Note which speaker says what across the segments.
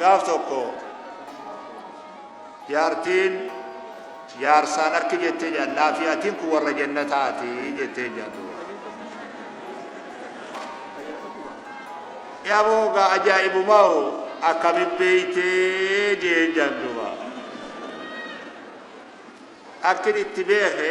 Speaker 1: Gaaf tokko jaartiin jaarsaan akki jettee jedhan laafi atiin kun warra jannataati jettee jedhu. Yaaboo gaa ajaa'ibumaa hoo akkami beeytee jeen janduba. Akkin itti beeke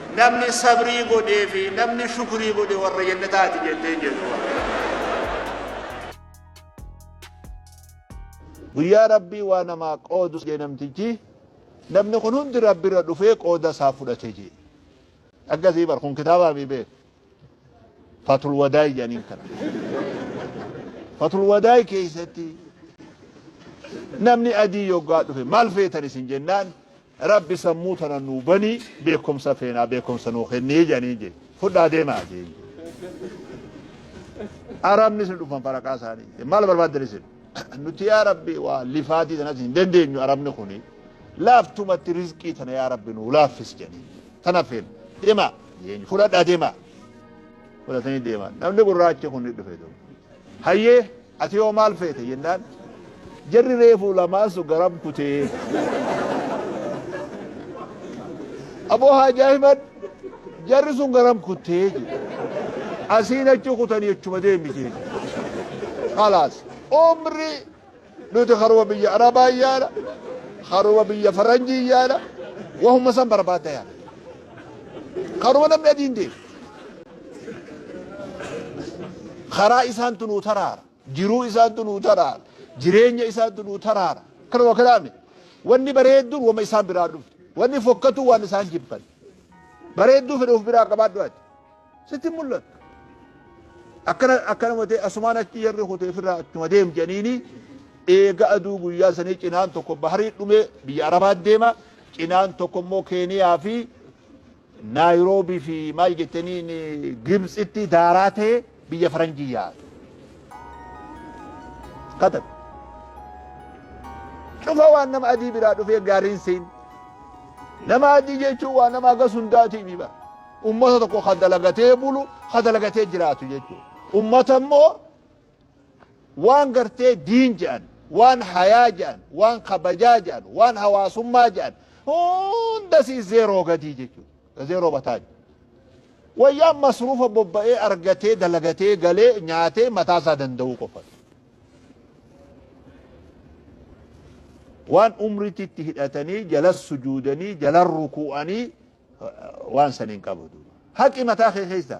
Speaker 1: Namni sabrii godhee fi namni shukrii godhe warra jannataati jette hin jettu Rabbiin. Guyyaa Rabbii waa namaa qoodu jee namtichi namni kun hundi Rabbirra dhufee qooda isaa fudhate jee. Akkasii bar kun kitaabaa mii bee. fatul wadaay jedhaniin kana. Fatul wadaay keessatti namni adii yoggaa dhufe maal feetan isin jennaan rabbi sammuu tana nuu banii beekumsa feenaa beekumsa nuu kennee jedhanii jedhe fudhaa deemaa jedhe. Arabni isin dhufan faraqaa isaanii maal barbaaddan isin nuti yaa rabbi waa lifaatii tanas hin dandeenyu arabni kuni laaftumatti rizqii tana yaa rabbi nuu laaffis jedhanii. Tan affeerre. Deemaa. Eenyu? Fudhadhaa deemaa. Fudhatanii deemaa. Namni gurraachi kun ni dhufe ture. Hayyee ati yoo maal feete jennaan jarri reefuu lamaan sun garam kutee. Aboo Haaji Ahimad jarri sun garam kuttee jedhe. Asiin achi kutanii achuma deemite. Kalaas. Umri Nuti karuma biyya Arabaa hin yaana, karuma biyya Faranjii hin yaana, wahuma san barbaadda yaana. Karuma namni adiin deemu. Karaa isaantu nuu taraara. Jiruu isaantu nuu taraara. Jireenya isaantu nuu taraara. Kanuma kanaami. Wanni bareedduun wama isaan biraa dhufte. Wanni fokkatu waan isaan jibban. Bareedduu fedhe of biraa qabaadhu ati. Sitti hin mul'attu. Akkana akkana matee asumaan achi jarri kutee firraa achuma deem jedhaniini eega aduu guyyaa sanii cinaan tokko baharii dhumee biyya Arabaa deema cinaan tokko immoo Keeniyaa fi Naayiroobii fi maal jettaniin Gibtsitti daaraa ta'e biyya faranjii yaa'a. Katan. Cufa waan nama adii biraa dhufee gaariin siin. Nama adii jechuun waa nama agas hundaatii mii bara. Ummata tokko ka dalagatee bulu, ka dalagatee jiraatu jechuudha. Ummata immoo waan gartee diin jedhan, waan hayaa jedhan, waan kabajaa jedhan, waan hawaasummaa jedhan hunda sii zeeroo gadii jechuudha. Zeeroo bataaj. Wayyaan masruufa bobba'ee argatee dalagatee galee nyaatee mataa isaa danda'uu qofa. Waan umriitti itti hidhatanii jalas sujuudanii jalan rukuu'anii waan san hin qabu duuba haqi mataa kee keessa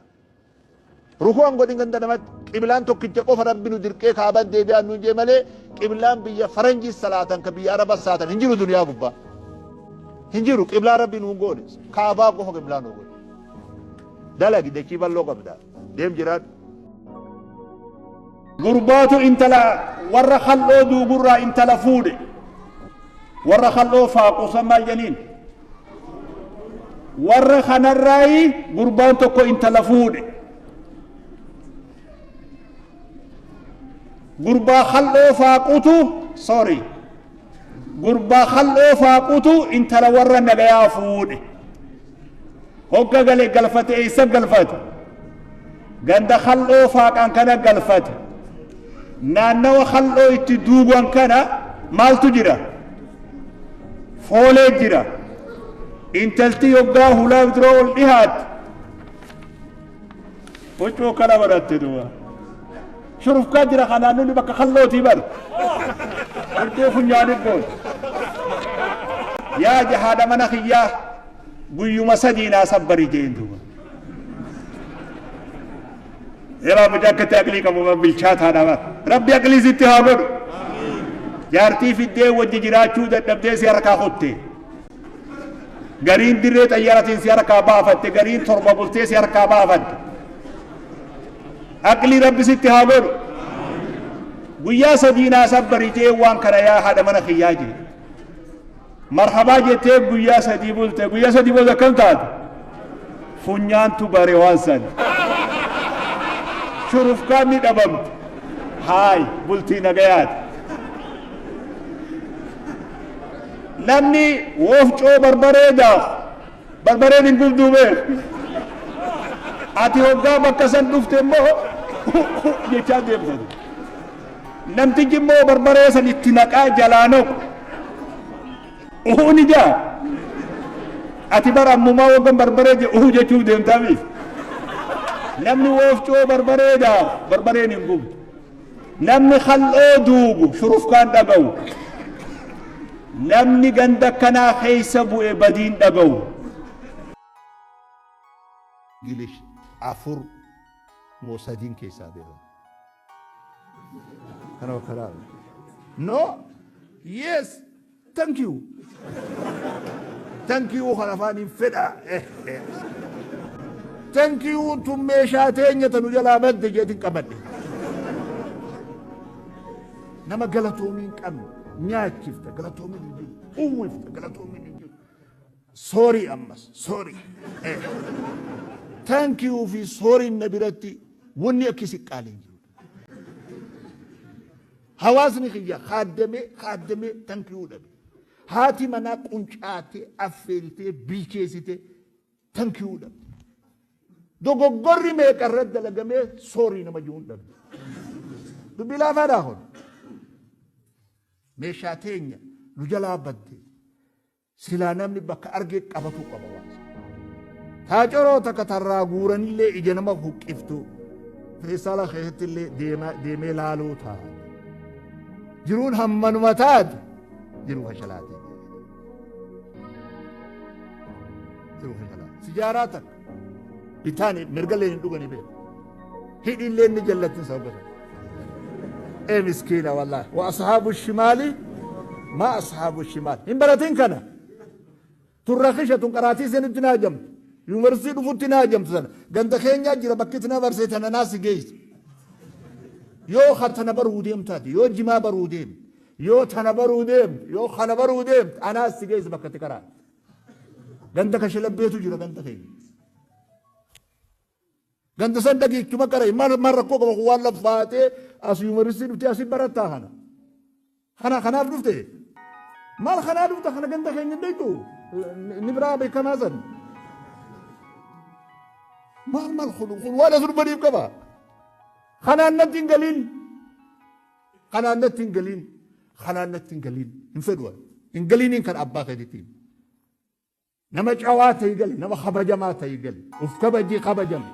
Speaker 1: ruku'an godhin ganda namatti qiblaan tokkicha qofa rabbi nu dirqee kaaban deebi'aan nuun jee malee qiblaan biyya faranjii salaatan ka biyya araba salaatan hin jiru duniyaa gubbaa hin jiru qiblaa rabbi nuun goone kaabaa qofa qiblaa nuu goone dalagi dachii bal'oo qabdaa Deem jiraadhu. Gurbaatu intala warra kal'oo duugurraa intala fuudhe. Warra kal'oo faaquusan maal janiin? Warra kanarraayi gurbaan tokko intala fuudhe. Gurbaa kal'oo faaqutu sorry. Gurbaa kal'oo faaqutu intala warra nagayaa fuudhe. Hogga gale galfate eessa galfate? Ganda kal'oo faaqan kana galfate. Naannawa kal'oo itti duuban kana maaltu jira? Foolee jira. Intalti yoggaa hulaa dura ol dhihaatti Huccuu kana godhatte duuba. Shurufkaa jira kanaan nuni bakka kallootii bar. Huccuu funyaanii goon. Yaa jahaadha mana kiyyaa guyyuma sadii naa sabbari jeen duuba. Yeroo abidda akkatti aqlii qabu bar bilchaataadha bar. Rabbi aqlii sitti haa godhu. Jaartii fiddee wajji jiraachuu dadhabdee si harkaa kutte. Gariin dirree xayyaratiin si harkaa baafatte, gariin torba bultee si harkaa baafatte. Aqlii rabbi sitti haa godhu.
Speaker 2: Guyyaa sadii naa sabbari jee waan kana yaa haadha mana kiyyaa jee. Marhabaa jettee guyyaa sadii bulte, guyyaa sadii booda akkam taate? Funyaantu bare waan san. Shurufkaan ni dhabamte. Haay, bultii nagayaati. Namni woofcoo barbaree daaku barbareen hin gubduu beeku. Ati hoggaa bakka san dhufte immoo jechaa deemta. Namtichi immoo barbaree san itti naqaa jalaa naqu. Uhuu ni jaa. Ati bara ammumaa waggan barbaree je uhuu jechuuf deemtaa miti. Namni woofcoo barbaree daaku barbareen hin gubdu. Namni kal'oo duubu shurufkaan dhagahu. Namni ganda akkanaa keessa bu'e badiin dhagahu.
Speaker 1: Gilish afur moo sadiin keessaa beekan. Kana bakka laala. No? Yes! Thank you. Thank you kan afaaniin fedha. Thank you tun meeshaa teenya tanu jalaa badde jeetiin qabadhe. Nama galatoomii hin qabne nyaachifta galatoomiin hin jiru. Uwwifta galatoomiin hin jiru. Sorry ammas sorry. Thank you fi sorry na biratti wanni akkasi qaalii hin jiru. Hawaasni kiyya kaaddamee kaaddamee tanki'uu dhabe. Haati manaa quncaatee affeeltee bilcheessitee tanki'uu dhabe. Dogoggorri meeqa irra dalagamee soorii nama jiruun dhabe. Dubbii laafaadhaa kun meeshaa teenya nu jalaa badde. Silaa namni bakka arge qabatuu qaba waan sana. Taa coroo takka tarraa guuranillee ija nama huqqiftu feestaala keessattillee deemaa- deemee laaluu taa. Jiruun hammanuma taatu jiruu fashalaatee. Jiruu fashalaatee. Sijaaraa takka. Bitaani mirgallee hin dhuganii beeku. Hidhiillee inni jallattiin sababa kana. Ee miskiina wallaahi. Wa ashaabu shimaali maa ashaabu shimaali. Hin baratin kana. Tun rakisha tun qaraatii isinitti naa jamtu. Yuunivarsiitii dhufutti naa jamtu sana. Ganda keenyaa jira bakki itti na barsee tana naa si geessu. Yoo kan tana baruu deemtaati. Yoo jimaa baruu deemte. Yoo tana baruu deemte. Yoo kana baruu deemte. Anaa si geessu bakka itti karaa. Ganda kashalabbeetu jira ganda keenya. Ganda san dhagiichuma qara maal maal rakkoo qaba kun waan laffaatee as yuumaristii dhufte asi barattaa kana. Kana kanaaf dhufte maal kanaa dhufta kana ganda keenya hin beektu ni biraa beekamaa san. Maal maal kun kun waan as durbaniif qaba. Kanaan natti hin galiin. Kanaan natti hin galiin. Kanaan natti hin galiin. Hin fedhu ani. Hin galiiniin kan abbaa keetitti himi. Nama cawaa ta'ii gali. Nama kabajamaa ta'ii gali. Of kabajii kabajame.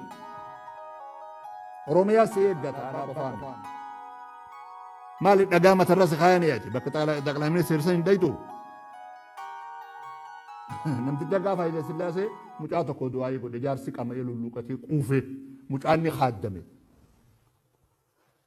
Speaker 1: Oromiyaa si eeggata abbaa qofaa miti. Maali dhagaa matarra si kaayanii ati bakka xaqlaa ministeera san hin dhayitu. Namticha gaafa Haile Sillaasee mucaa tokko du'aayii godhe jaarsi qama'ee lulluuqatee quufee mucaan ni haaddame.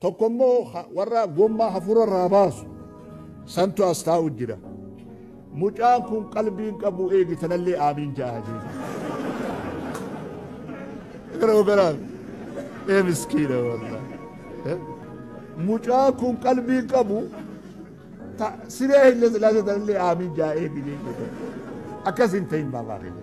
Speaker 1: Tokko immoo warra gommaa hafuura irraa baasu santu as taa'u jira. Mucaan kun qalbii hin qabu eegi tanallee aamiin ja'a jechuudha. Yeroo garaa ee miskiina warra. Mucaan kun qalbii hin qabu siree hin lasilaasee tanallee aamiin ja'a eegi jechuudha. Akkas hin ta'in baabaa keenya.